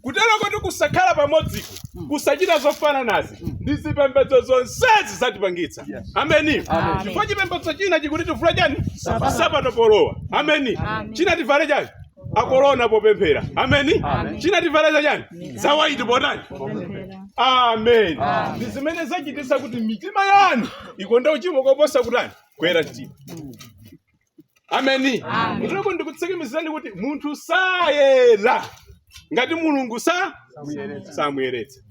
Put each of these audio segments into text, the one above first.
kutero kuti kusakhala pamodziku kusachita zofananazi ndi zipembedzo zonsezi zatipangitsa ameni Amen. chifukwa chipembedzo china chikuti tivule chani Nsapato. nsapato polowa ameni Amen. china tivale chani akolona popemphera ameni Amen. china tivale za chani zawaiti potani Kupemphera. amen Amen. ndi zimene zachititsa kuti mitima yanu ikonde uchimo koposa kutani kuyera mtima ameni Amen. kuteroko ndikutsikimizirani kuti munthu sayera ngati mulungu sanamuyeretse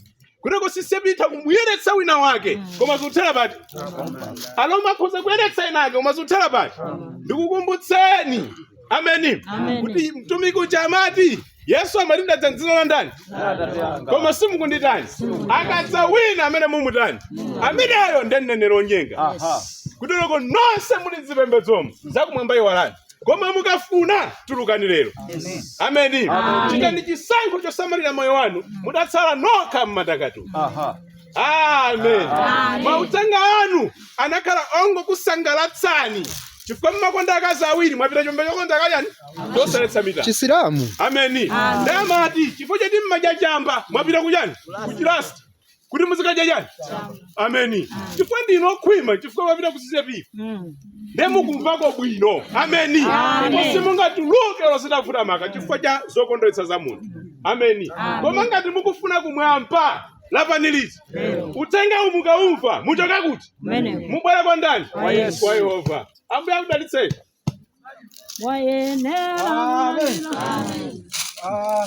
kuteroko CCAP itha kumuyeretsa wina wake koma zikuthera pati a Roma akhoza kuyeretsa enake koma zikuthera pati ndikukumbutseni ameni Amen. kuti mtumiki uja amati yesu amati ndadza mdzina la ndani koma simukunditani akadza wina amene mumutani ameneyo ndi mneneri onyenga Aha. kutereko nonse muli mzipembedzomo zakumwamba iwalani koma mukafuna tulukani lero ameni chitani chisankho chosamalira moyo wanu mudatsala nokha mmatakatu Aha. amen mauthenga anu anakhala ongokusangalatsani chifukwa mmakonda akazi awiri mwapita chomba chokonda kachani chosaletsa mitala chisilamu ameni ndamati chifukwa choti mmadya chamba mwapita kuchani kuchirasta kuti muzikadya chani ameni chifukwa ndinu okhwima chifukwa mwapita ku CCAP nde mukumvako bwino ameni ndipo simungatuluke olo zitavuta maka chifukwa cha zokondweretsa za munthu ameni koma ngati mukufuna kumwamba lapani liti uthengawu mukaumva muchoke kuti Mene. mubwere kwa ndani Kwa Yesu. kwa yehova ambuye akudalitseni Wayenera. Amen. Ah.